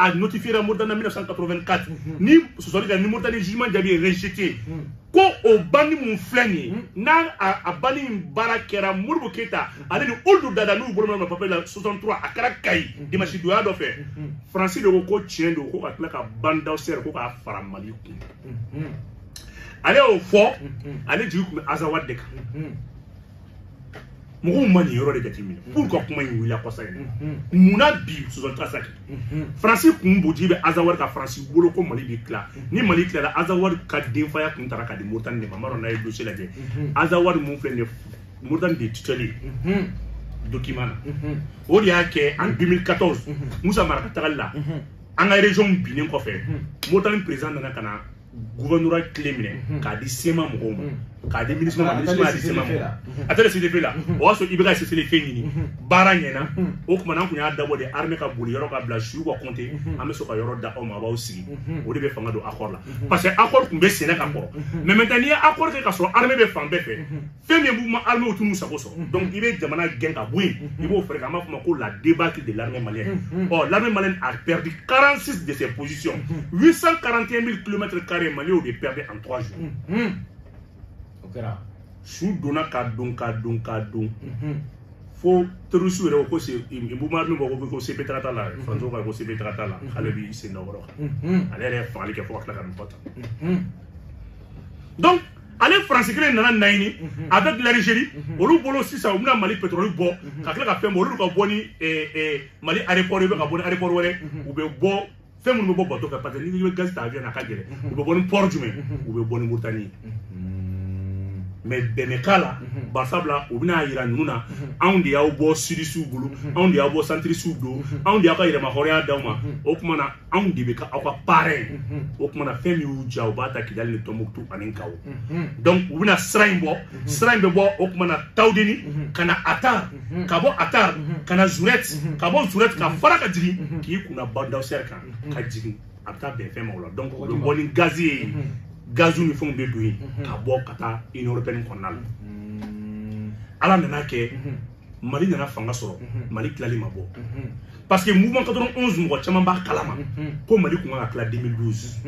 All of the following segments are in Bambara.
a notifiera Mauritanie en 1984 ni sɔsɔli kɛ ni Mauritanie jugement jaabi ye rejeté ko o banni mun filɛ nin ye n'a a banni in baara kɛra Modibo Keyita ale ni Ould Dada n'u bolo ma papier la 63 a kɛra Kayi dimanche donya dɔ fɛ Faransi de ko ko tiɲɛ don ko ka tila ka Bandawsɛri ko k'a fara Mali kan ale y'o fɔ ale jigi tun bɛ Azawad de kan mɔgɔw ma nin yɔrɔ de jateminɛ mhm. pourquoi kuma in wulila kɔsa in mhm. munna bi 63 mhm. faransi kun b'o jigi bɛ Azawad kan faransi bolo ko mali bi tila ni mali tilala Azawad ka denfaya kun tara ka di moritani de ma n m'a dɔn n'a ye dossier lajɛ Azawad mun filɛ nin moritani de tutelle document na o de y'a kɛ en 2014 musa mara ka tagali la an ka région binnen kɔfɛ moritani président nana ka na gouvernorat clé minɛ mhm. k'a di CMA mɔgɔw ma mhm. k'a di MINUSMA MINUSMA di CMA mɔgɔw actuel CSP la mhm. o y'a sɔrɔ i bɛ ka cessez-le-feu ɲini baara ɲɛna o tuma na an tun y'a dabɔ de armée ka boli yɔrɔ ka bila suw ka compter an bɛ sɔn ka yɔrɔ d'aw ma a b'aw sigi o de bɛ fanga don accord la parce que accord tun bɛ sen na ka kɔrɔ mais maintenant n'i ye accord kɛ ka sɔrɔ armée bɛ fan bɛɛ fɛ fɛn min mouvement armé tun t'u sago sɔrɔ mm-hmm. donc i bɛ jamana gɛn ka bɔ yen mm-hmm. i b'o fɛɛrɛ kɛ an b'a fɔ ma ko la débâcle de l'armée malienne mm-hmm. ɔ oh, l'armée malienne a perdu 46 de ses positions 841 000 kilomètres carrés Mali y'o de perdre en 3 jours o kɛra su donna ka don ka don ka don fo terroriste yɛrɛ ko se buma min bɔ ko ko CP taga t'a la faransiw ka ko CP taga t'a la k'ale b'i sen da o yɔrɔ kan ale yɛrɛ ye fagali kɛ fo ka tila ka nin fɔ tan donc ale faransi kelen nana n'a ɲini mhm. avec l'Algérie mhm. olu bolo sisan u bɛna mali petroli bɔ mhm. ka tila ka fɛn bɔ olu ka bɔ ni eh, eh, mali aéroport ye bɛ ka bɔ ni aéroport wɛrɛ u bɛ bɔ fɛn minnu bɛ bɔ bato fɛ parce que n'i bɛ gazi ta avion na a ka gɛlɛn u bɛ bɔ ni port jumɛn u bɛ bɔ ni muritani ye mais bɛn bɛ k'a la barisabula u bɛn'a yira ninnu na anw de y'aw bɔ sudisiw bolo anw de y'aw bɔ santirisiw bolo anw de y'aw ka yɛrɛmahɔrɔnya d'aw ma o tuma na anw de bɛ kɛ aw ka parrain ye o kuma na fɛn min y'u diya u b'a ta kidali ni tɔnbuktu ani gawo donc u bɛna sira in bɔ sira in bɛ bɔ o kuma na tawudeni ka na atar ka bɔ atar ka na zurɛt ka bɔ zurɛt ka fara ka jigin k'i kun da bandawsɛri kan ka jigin a bɛ taa bɛn fɛn ma o la donc u bɛ bɔ ni gazi ye gaziw ni fɛnw bɛ don yen ka bɔ ka taa union européenne kɔnɔna la ala nan'a kɛ mali nana fanga sɔrɔ mali tilali ma bɔ parce que mouvement 91 mɔgɔ caman b'a kalama ko mali kun ka tila 2012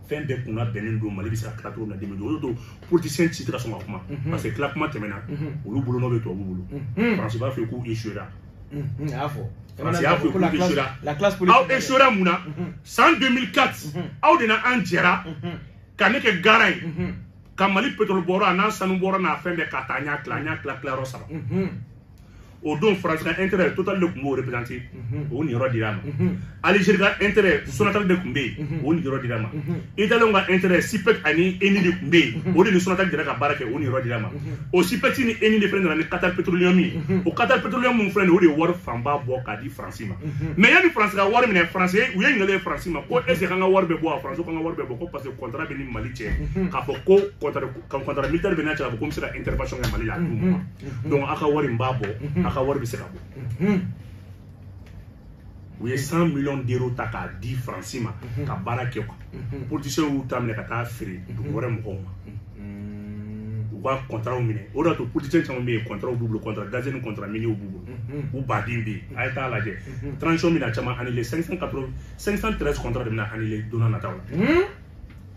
fɛn bɛɛ kun labɛnnen don mali bɛ se ka tila cogo min na 2012 o de don politicien si tɛ ka sɔn ka kuma parce que tila kuma tɛmɛna olu bolo n'o bɛ tubabu bolo faransi b'a fɔ k'u échouera a y'a fɔ faransi y'a fɛ k'u échouera aw échouera mun na san 2004 aw de na an jɛra ka ne kɛ garant ye ka mali pétrole bɔyɔrɔ a n'a sanu bɔyɔrɔ n'a fɛn bɛɛ ka taa n y'a tila n y'a tila tilayɔrɔ saba o don faransi ka intérêt total de tun b'o représenté o niyɔrɔ dir'a ma algérie ka intérêt sonatel de tun bɛ yen o niyɔrɔ dir'a ma italie ka intérêt sipec ani eni de tun bɛ yen o de ni sonatel jɛra ka baara kɛ o niyɔrɔ dir'a ma o sipec ni eni de fana nana ni qatar petroleum ye o qatar petroleum min filɛ nin o de ye wari fanba bɔ k'a di faransi ma mais yanni faransi ka wari minɛ faransi u ye ɲininkali ye faransi ma ko est ce que an ka wari bɛ bɔ wa faransi k'an ka wari bɛ bɔ ko parce que contrat bɛ n ni mali cɛ k'a fɔ ko contrat militaire bɛ n'a cɛ k'a fɔ ko n bɛ se ka intervention kɛ mali la a d'u ma donc aw ka wari n b'a bɔ aw ka wari bɛ se ka bɔ u ye 100 millions d'euros ta k'a di faransi ma ka baara kɛ quoi politiciens y'u ta minɛ ka taa feere dugu wɛrɛ mɔgɔw ma u ka kɔntaraw minɛ o de y'a to politiciens caman bɛ yen kɔntaraw b'u bolo kɔntara gaze ni kɔntara miniw b'u bolo u baden bɛ yen a ye taa lajɛ transition bɛna caman annulé 580 513 kɔntara de bɛna annulé don nataw la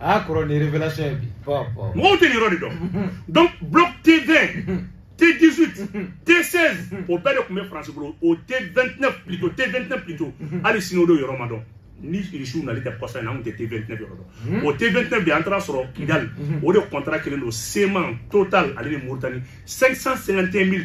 a kɔrɔ nin révélation ye bi mɔgɔw tɛ nin yɔrɔ de dɔn donc bloc T20 T18 T16 o bɛɛ de tun bɛ France bolo o T29 plutôt T29 plutôt hali sini o de yɔrɔ ma dɔn ni irisiw nali tɛ kɔsa in na an tun tɛ T29 yɔrɔ dɔn o T29 bi an taar'a sɔrɔ Kidal o de contrat kelen don seulement Total ale ni Mauritanie 551 000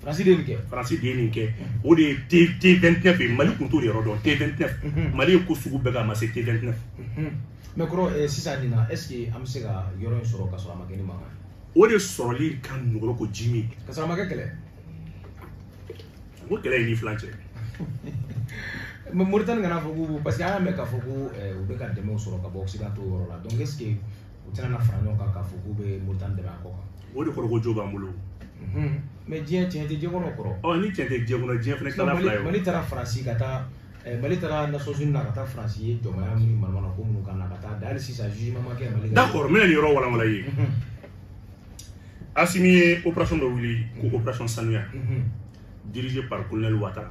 Faransi de ye nin kɛ. Faransi de ye nin kɛ. O de ye T T29 ye Mali tun t'o de yɔrɔ dɔn T29. Mhm. Mali ye ko sugu bɛɛ kɛ a ma se T29. Mhm. Mais kɔrɔ eh, sisan nin na est ce que an bɛ se ka yɔrɔ in sɔrɔ ka sɔrɔ a ma kɛ ni mankan ye. O de sɔrɔli ka nɔgɔn ko ji min. Ka sɔrɔ a ma kɛ kɛlɛ. O kɛlɛ ye ni filan cɛ. Mais Mauritanie kana fɔ ko parce que an y'a mɛn k'a fɔ ko eh, u bɛ ka dɛmɛw sɔrɔ ka bɔ occidentaux yɔrɔ la donc est ce que u tɛna na fara ɲɔgɔn kan k'a fɔ k'u bɛ moritani dɛmɛ a kɔ kan o de kɔrɔ ko jo b'an bolo mais diɲɛ tiɲɛ tɛ diɲɛ kɔnɔ kɔrɔ ɔ ni tiɲɛ tɛ diɲɛ kɔnɔ diɲɛ fana tilala fila ye mali taara faransi ka taa eh, mali taara nations unies na ka taa faransi ye jɔnmaya minnu manamana ko minnu k'an na ka taa a da hali sisan jugement ma kɛ mali d'accord n bɛna nin yɔrɔ walanwala ye asimi ye operation dɔ wuli ko operation sanuya dirigé par colonel watara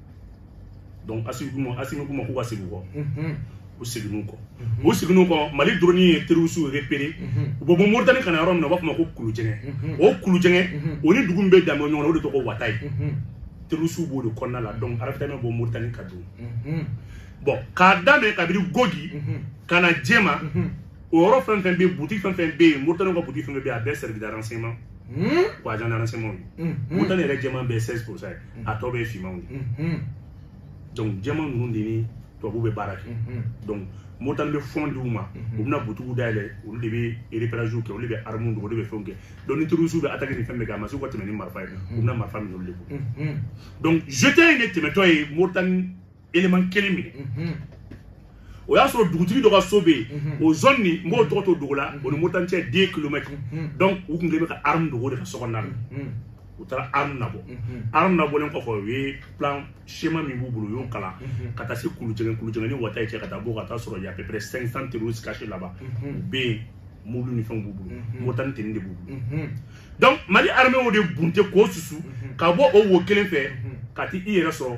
donc asimi k'u ma asimi k'u ma k'u ka segin kɔ u seginn'u kɔ u seginn'u kɔ mali dɔrɔni ye terisiw repere u bɛ bɔ moritani ka na yɔrɔ min na u b'a fɔ ma ko kulujɛngɛ o kulujɛngɛ o ni dugu min bɛ dan bɔ ɲɔgɔn na o de tɔgɔ wata ye terisiw b'o de kɔnɔna la donc ravitaillement bɛ bɔ moritani ka don bon k'a daminɛ kabiri gogi ka na jɛma o yɔrɔ fɛn fɛn bɛ yen butigi fɛn fɛn bɛ yen moritani ka butigi fɛn fɛn bɛ yen a bɛɛ service de renseignement Hmm? ou agent de renseignement ye moritani yɛrɛ jɛman bɛɛ 16 pourcent ye a tɔ bɛɛ fimanw de donc jɛman ninnu de ni tubabu bɛ baara kɛ donc moritani bɛ fɔn di u ma u bɛna butigi dayɛlɛ olu de bɛ reperaziw kɛ olu de bɛ armu don olu de bɛ fɛnw kɛ donc ni terrorisiw bɛ ataki ni fɛn bɛɛ kɛ a ma se u ka tɛmɛ ni marifa ye u bɛna marifa minɛ olu de bolo donc jete in de tɛmɛtɔ ye moritani élément kelen minɛ o y'a sɔrɔ dugutigi dɔ ka so bɛ yen o zone nin n b'o tɔgɔ to dogo la o ni mauritanie cɛ 2 kilomètres donc u tun kɛ bɛ ka arme dogo de ka so kɔnɔna na u taara arme nabɔ arme nabɔlen kɔfɛ u ye plan schéma min b'u bolo u y'o kalan ka taa se kulujɛgɛn kulujɛgɛn ni wata ye cɛ ka taa bɔ ka taa sɔrɔ y a à peu près 500 terroristes cachés là-bas u bɛ yen mobili ni fɛnw b'u bolo mauritanie tenue de b'u bolo donc mali armée o de bunte k'o susu ka bɔ o wo kelen fɛ ka t'i yɛrɛ sɔrɔ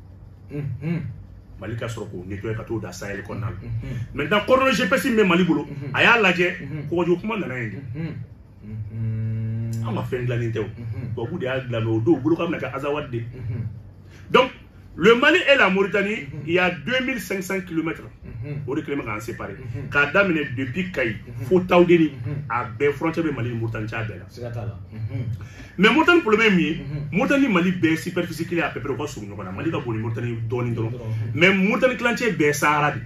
mali ka sɔrɔ k'o nettoyer ka t'o da sahel kɔnɔna la maintenant coordonnées gps min bɛ mali bolo a y'a lajɛ kɔgɔji ko kuma nana yen de an ka fɛn dilannen tɛ o tubabu de y'a dilan o don u bolo k'a bɛna kɛ azawad de donc le mali et la mauritanie il y a 2500 kilomètres o de kɛlen bɛ k'an séparer k'a daminɛ depuis kayi fo tawudeni a bɛɛ frontière bɛ mali ni mauritanie cɛ a bɛɛ la mais mauritanie problème min ye mauritanie mali bɛɛ superficie kelen à peu près u ka surun ɲɔgɔn na mali ka bon ni mauritanie dɔɔni dɔrɔn mais mauritanie tilancɛ bɛɛ sahara de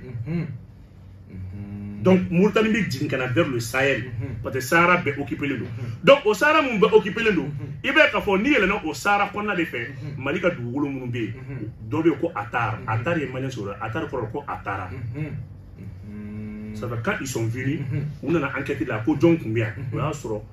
donc mauritanie bɛ jigin ka na vers le sahel mhm. parce que sahara bɛɛ occupelen don mhm. donc o sahara minnu bɛɛ occupelen don mhm. i b'a ye k'a fɔ n'i yɛlɛnna o sahara kɔnɔna de fɛ mali ka dugukolo minnu bɛ yen dɔ bɛ yen ko atar atar ye malien sɔrɔ atar kɔrɔ ko atara ça fait quand ils sont venus u nana enquête la ko jɔn tun bɛ yan o y'a sɔrɔ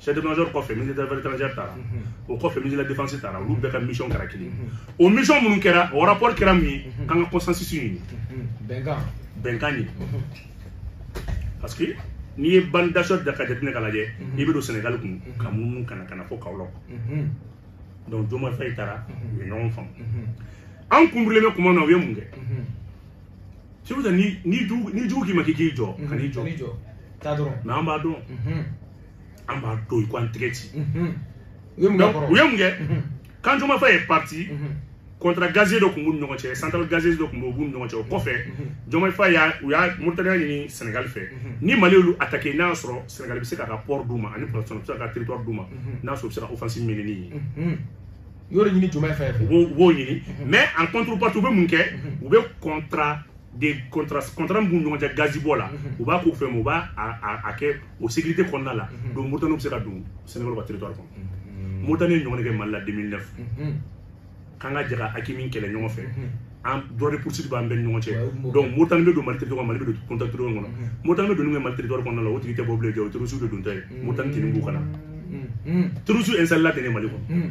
chef d'état-major kɔfɛ ministre des affaires étrangères taara o kɔfɛ ministre de la défense taara olu bɛɛ ka mission kɛra kelen o mission minnu kɛra o rapport kɛra mun ye k'an ka consensus ɲini bɛnkan bɛnkan ɲini parce que n'i ye ban dasɔ da ka jateminɛ ka lajɛ i bɛ don sɛnɛgali kun ka munumunu ka na ka na fo kaolack donc diomaye faye taara u ye ɲɔgɔn faamu an kun birilen bɛ kuma na u ye mun kɛ c'est pour ça ni jugu k'i ma k'i k'i jɔ kan'i jɔ mais an b'a dɔn an b'a dɔn i ko an tɛgɛ ci u ye mun kɛ quand diomaye faye est parti contrat gazier dɔ tun b'u ni ɲɔgɔn cɛ central gazier dɔ tun b'u b'u ni ɲɔgɔn cɛ o kɔfɛ diomaye faye u y'a mauritanie y'a ɲini senegali fɛ ni mali y'olu attaquer n'a y'a sɔrɔ senegali bɛ se k'a ka port d'u ma ani pɔrɔsɔn bɛ se k'a ka territoire d'u ma n'a sɔrɔ u bɛ se ka offensive mener ni ye yɔrɔ ɲini diomaye fɛ u b'o u b'o ɲini mais en contrepartie u bɛ mun kɛ u bɛ contrat de contrat contrat min b'u ni ɲɔgɔn cɛ gazibɔ la u b'a k'u fɛ mais u b'a a a a kɛ o sécurité kɔnɔna la mhm. donc moritani bɛ se ka don sénégal ka territoire kɔnɔ mhm. moritani ye ɲɔgɔn kɛ mali la 2009 mhm. k'an ka jɛ ka aqmi kɛlɛ ɲɔgɔn fɛ an droit de poursuite b'an bɛɛ ni ɲɔgɔn cɛ donc moritani bɛ don mali territoire mali bɛ don contact territoire kɔnɔ moritani bɛ donni kɛ mali territoire kɔnɔna la o tigi tɛ bɔ bilen jɛ o terroriste de dontɔ ye moritani tenue b'u kan na terroriste installé la ten ne mali kɔnɔ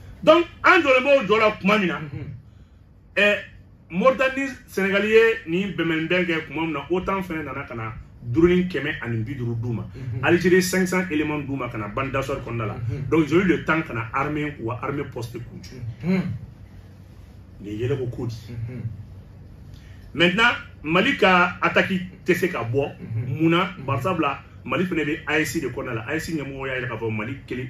donc an jɔlen b'o jɔ la tuma min na ɛ moritani sɛnɛgali ye nin bɛnbɛnbɛn kɛ tuma min na otan fɛnɛ nana ka na drone kɛmɛ ani bi duuru d'u ma algérie 500 éléments d'u ma ka na bande d'assoir kɔnɔna la donc ils ont eu le temps ka na armée wa armée poste k'u jɔ nin ye yɛlɛko ko di maintenant mali ka ataki tɛ se ka bɔ mun na bari sabula mali fɛnɛ bɛ AES de kɔnɔna la AES ɲɛmɔgɔ y'a yira k'a fɔ mali kelen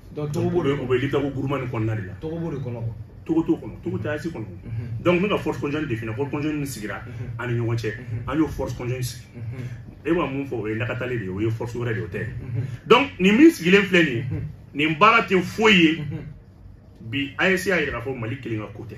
donc togo b'o de kɔnɔ o bɛ liptako gourma nin kɔnɔna de la togo b'o de kɔnɔ quoi togo t'o kɔnɔ togo tɛ AES kɔnɔ donc ne ka force conjointe de fina force conjointe min sigira an ni ɲɔgɔn cɛ an y'o force conjointe sigi e bɛ mun fɔ o ye lakatali de ye o ye force wɛrɛ de ye o tɛ donc nin min sigilen filɛ nin ye nin baara tɛ foyi ye bi AES y'a yira k'a fɔ mali kelen ka ko tɛ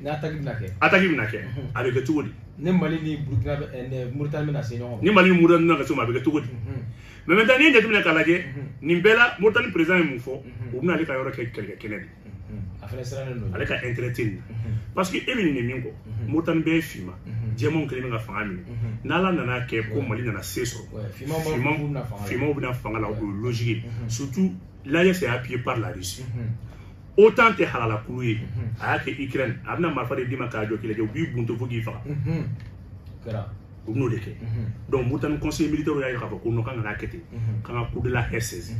ni ataki bɛna kɛ ataki bɛna kɛ a bɛ kɛ cogo di ni mali ni burukina eh, muritani bɛna se ɲɔgɔn ma ni mali ni muritani bɛna se ɲɔgɔn ma a bɛ kɛ cogo di mais maintenant n'i ye jateminɛ k'a lajɛ nin bɛɛ la muritani président ye mun fɔ u bɛna ale ka yɔrɔ kɛ kɛlɛkɛ kɛnɛ de a fana sirannen don ale ka intérêt tɛ nin parce que e bɛ nin de min kɔ muritani bɛɛ ye finma jɛmanw kelen bɛ ka fanga minɛ n'ala nana kɛ ko mali nana se sɔrɔ finmaw bɛna fanga la o ye logique surtout l'AES est appuyé par la Russie otan tɛ halala kulu ye a y'a kɛ ukraine a bɛna marifa de d'i ma k'a jɔ k'i lajɛ u b'i bunte fo k'i faga u bɛn'o de kɛ donc muritani conseil militaire y'a jira k'a fɔ ko non k'an kana kɛ ten k'an ka Cour de La Haye saisi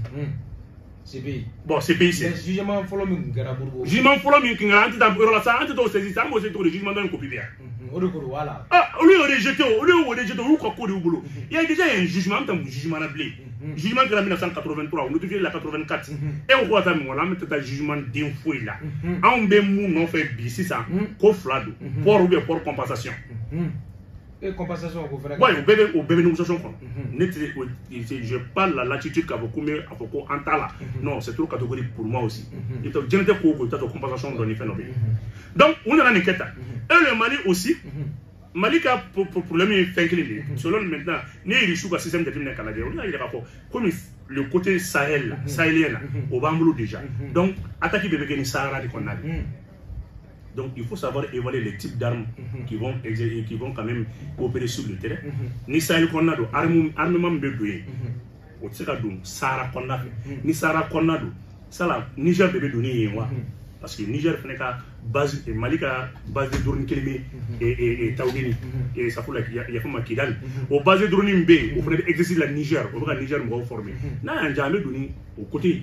CPI. Bon, CPI c'est. Jugement fɔlɔ min tun kɛra Modibo. Jugement fɔlɔ min tun kɛra an tɛ taa yɔrɔ la sa an tɛ t'o saisi sa an b'o se cogo di jugement dɔ in copie bɛ yan. Mhm, o de ko don voilà. aa ah, olu y'o rejeté o olu y'o rejeté olu ka ko de y'u bolo mhm. il y a déjà un jugement an bɛ taa mun jugement na bilen mhm. jugement kɛra 1983 o notifié la 84 e ko ko ka taa mɔgɔ la an bɛ taa jugement den foyi la anw bɛ mun nɔfɛ bi sisan ko fila don port ou bien port compensation. et compensation ko fana. wa o bɛɛ bɛ o bɛɛ bɛ négociation kɔnɔ ne tɛ o j'ai pas la latitude k'a fɔ ko n bɛ a fɔ ko an t'a la non c'est trop catégorique pour moi aussi i bɛ taa diɲɛnatigɛ ko o ko i bɛ t'a sɔrɔ compensation dɔ ni fɛn dɔ bɛ yen. donc u nana nin kɛ tan et le mali aussi mali ka problème ye fɛn kelen de ye selon maintenant ne ye irisiw ka système jateminɛ k'a lajɛ olu y'a yira k'a fɔ komi le côté sahel la sahélien la o b'an bolo déjà donc attaque bɛɛ bɛ kɛ ni sahara de kɔnɔna de Donc il faut savoir évaluer les types d'armes mm -hmm. qui, vont qui vont quand même opérer sur le terrain. Mm -hmm. Ni sahel kɔnɔna don armement min bɛ don yen o tɛ se ka don sahara kɔnɔna fɛ hmm. ni sahara kɔnɔna don sala niger de bɛ don ni yen wa hmm. parce que niger fana ka base eh, mali ka base de drone kelen bɛ hmm. eh, eh, tawudeni sanfɛla yafa ma kidali o base de drone min bɛ yen o fana bɛ exercice la niger o bɛ ka niger mɔgɔw former n'a y'an diya an bɛ don ni o côté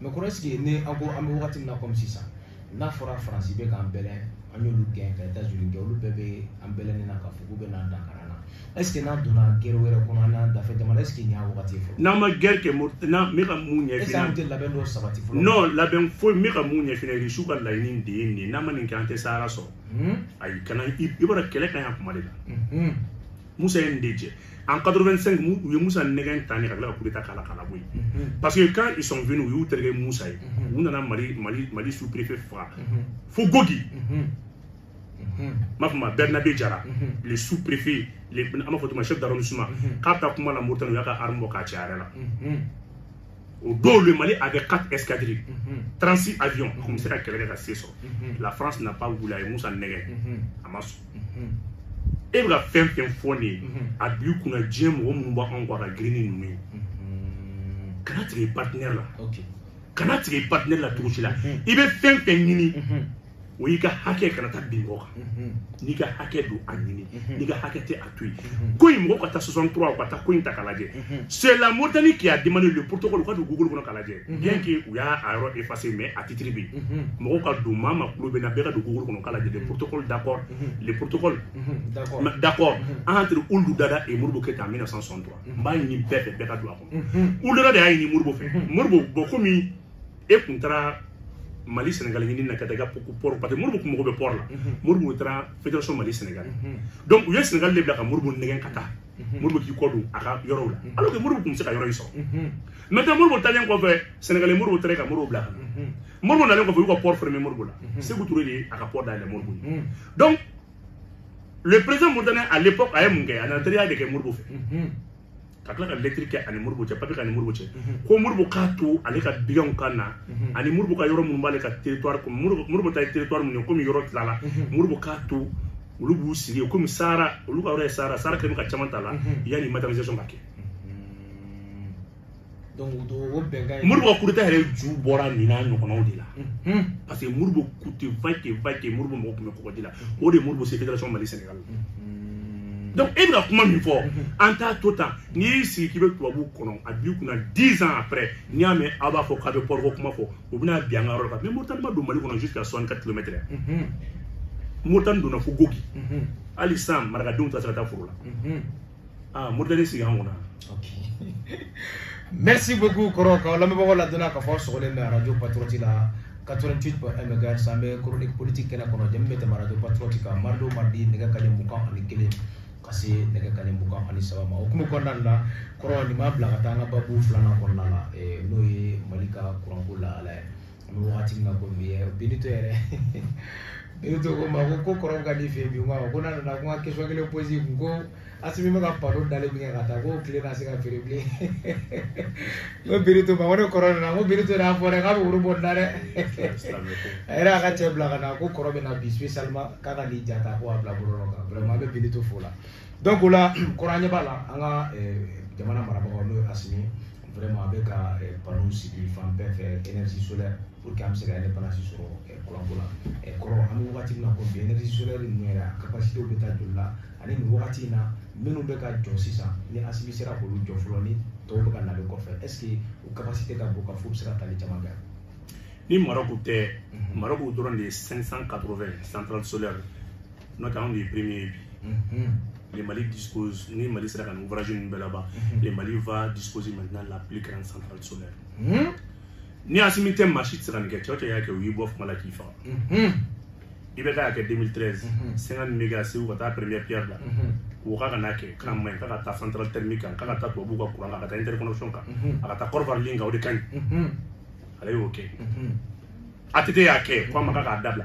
mɛ kɔrɔ ɛseke ni an bɛ wagati min na kɔmi sisan n'a fɔra faransi bɛ k'an bɛlɛn an y'olu gɛn ka etazini olu bɛɛ bɛ an bɛlɛnnen na k'a fɔ k'u bɛ na dankari an na ɛseke n'an donna gɛrɛ wɛrɛ kɔnɔ an n'an dafɛ jamana ɛseke nin y'a wagati ye fɔlɔ n'an ma gɛrɛ kɛ n'an bɛ ka mun ɲɛfin ɛseke an tɛ labɛn dɔ sabati fɔlɔ non labɛn foyi n bɛ ka mun ɲɛfɔ irisiw ka laɲini de ye nin ye n'an ma nin kɛ an tɛ sahara sɔrɔ ayi kana i b'a dɔn kɛlɛ ka ɲi a kuma de la musa ye nin de jɛ en 85 u ye musa nɛgɛn tan ni ka tila ka kudeta k'a la k'a labɔ yen parce que quand ils sont venus u y'u terikɛ musa ye u nana mali sous préfet faga fo gogi n b'a f'a ma bernabe jara le sous préfet an b'a fɔ o tuma chef d'arrondissement k'a bɛ taa kuma la moritani u y'a ka arme bɔ k'a ci a yɛrɛ la o don le mali avait quatre escadrilles mhm. 36 avions a tun bɛ se ka kɛlɛ kɛ ka se sɔrɔ la france n'a pas voulu a ye musa nɛgɛn a ma sɔn e bɛ ka fɛn fɛn fɔ nin ye a b'i kunna diɲɛ mɔgɔ minnu b'anw kɔ a ka girin ni ninnu ye kana tigɛ i partenaire la kana tigɛ i partenaire la cogo si la i bɛ fɛn fɛn ɲini o y'i ka hakɛ kana taa bin mɔgɔ kan n'i ka hakɛ don a ɲini n'i ka hakɛ tɛ a to yen ko in mɔgɔ ka taa 63 ka taa ko in ta k'a lajɛ c'est la moritani qui a demandé le protocole u ka don google kɔnɔ k'a lajɛ bien que u y'a a yɔrɔ effacé mais a titre bɛ yen mɔgɔ ka don maa min tulo b'an na bɛɛ ka don google kɔnɔ k'a lajɛ le protocole d'accord le protocole d'accord entre ould daddah et moribo keyita 1963 n b'a ɲini bɛɛ fɛ bɛɛ ka don a kɔnɔ ould daddah de y'a ɲini moribo fɛ moribo bɔn komi e kun taara mali sɛnɛgali ɲini na ka taa i ka pɔri parce que moribu kun mago bɛ pɔri la moribu taara fédération mali sɛnɛgali donc u ye sɛnɛgali de bila ka moribu nɛgɛn ka taa moribu k'i kɔ don a ka yɔrɔw la alors que moribu kun bɛ se ka yɔrɔ in sɔrɔ maintenant moribu talen kɔfɛ sɛnɛgali moribu taara ka moribu bila ka na moribu nalen kɔfɛ u y'u ka pɔri ferme moribu la seku ture de ye a ka pɔri dayɛlɛ moribu ye donc le président moritanien à l'époque a ye mun kɛ a nana teriya de kɛ moribu fɛ ka tila ka lɛtiri kɛ a ni moribo cɛ papiye k'a ni moribo cɛ mhm. ko moribo k'a to ale ka baganw ka na mhm. ani moribo ka yɔrɔ minnu b'ale ka teritwari kɔnɔ moribo ta ye teritwari minnu ye komi yɔrɔ tilala mhm. moribo k'a to olu b'u sigi yen komi sahara olu ka yɔrɔ ye sahara sahara kɛlen bɛ ka caman ta la yanni matérialisation ka kɛ moribo kudeta yɛrɛ ju bɔra nin n'a ɲɔgɔnnaw de la mhm. parce que moribo coûte vaille que vaille moribo mago tun bɛ kɔgɔji la o de moribo se fédération mali sénégal mhm. donc e bɛna kuma min fɔ mhm. an t'a to tan n'i y'i sigi k'i bɛ tubabuw kɔnɔ a b'i kunna dix ans après n'i y'a mɛn aw b'a fɔ k'a bɛ pɔriko kuma fɔ u bɛna bin an ka yɔrɔ la mais moritani ma don mali kɔnɔ jusqu'à soixante quatre kilomètre moritani donna fo gogi hali sisan marakadenw tɛ se ka taa foro la ah Mauritanie sigi an kunna merci beaucoup kɔrɔ k'an lamɛnbagaw ladɔnniya k'a fɔ aw sɔgɔlen bɛ radio patriote la 88 mhz an bɛ chronique politique kɛnɛ kɔnɔ jɛmu bɛ tɛmɛ radio patriote kan mardi o mardi nɛgɛ kanɲɛ mugan ani kelen ka se nɛgɛ kanɲɛ mugan ani saba ma o kuma kɔnɔna la kɔrɔ nin b'an bila ka taa an ka babu filanan kɔnɔna la n'o ye mali ka kuranko lahala ye an bɛ wagati min na ko bi ye binitɔ yɛrɛ binitɔ ko ma ko ko kɔrɔ ka di fɛ yen bi ko ko n'a nana ko n ka question kelen poser kun ko asimi bɛ ka panneau dalen min kɛ ka taa ko tile na se ka feere bilen n ko binitɔ ma ko ni kɔrɔ nana n ko binitɔ y'a fɔ dɛ k'a bɛ woro bɔ n da dɛ a yɛrɛ y'a ka cɛ bila ka na ko kɔrɔ bɛ na bi spécialement k'a ka nin ja ta ko a bila bɔlɔlɔ kan vraiment an bɛ binitɔ fo la donc o la kɔrɔ an ɲɛ b'a la an ka jamana marabagaw n'o ye asimi vraiment a bɛ ka panneau sigi fan bɛɛ fɛ énergie solaire pour que an bɛ se ka indépendance sɔrɔ kuranko la kɔrɔ an bɛ wagati min na ko bi énergie solaire ninnu yɛrɛ a capacité bɛ taa joli la ani nin wagati in na minnu bɛ ka jɔ sisan ni asimi sera k'olu jɔ fɔlɔ ni tɔw bɛ ka na bɛ kɔfɛ est ce que o capacité ka bon ka fɔ u bɛ se ka tali caman kɛ ni maroc tɛ maroc dɔrɔn de ye 580 centrale solaire n'o tɛ anw de ye premier ye bi le Mali dispose ni Mali sera ka nin ouvrage ninnu bɛɛ laban le Mali va disposer maintenant la plus grande centrale solaire mhm. ni Asimi tɛ maa si tɛ se ka nin kɛ cɛ o cɛ y'a kɛ u y'i bɔ fanga la k'i faga mhm. IBK y'a kɛ 2013 50 méga Segu ka taa première pierre da ko k'a kana kɛ k'a man ɲi k'a ka taa centrale thermique kan k'a ka taa tubabuw ka courant kan a ka taa interconnexion kan a ka taa Côte d'Ivoire ligne kan o de ka ɲi ale y'o kɛ ATT y'a kɛ ko a ma k'a k'a dabila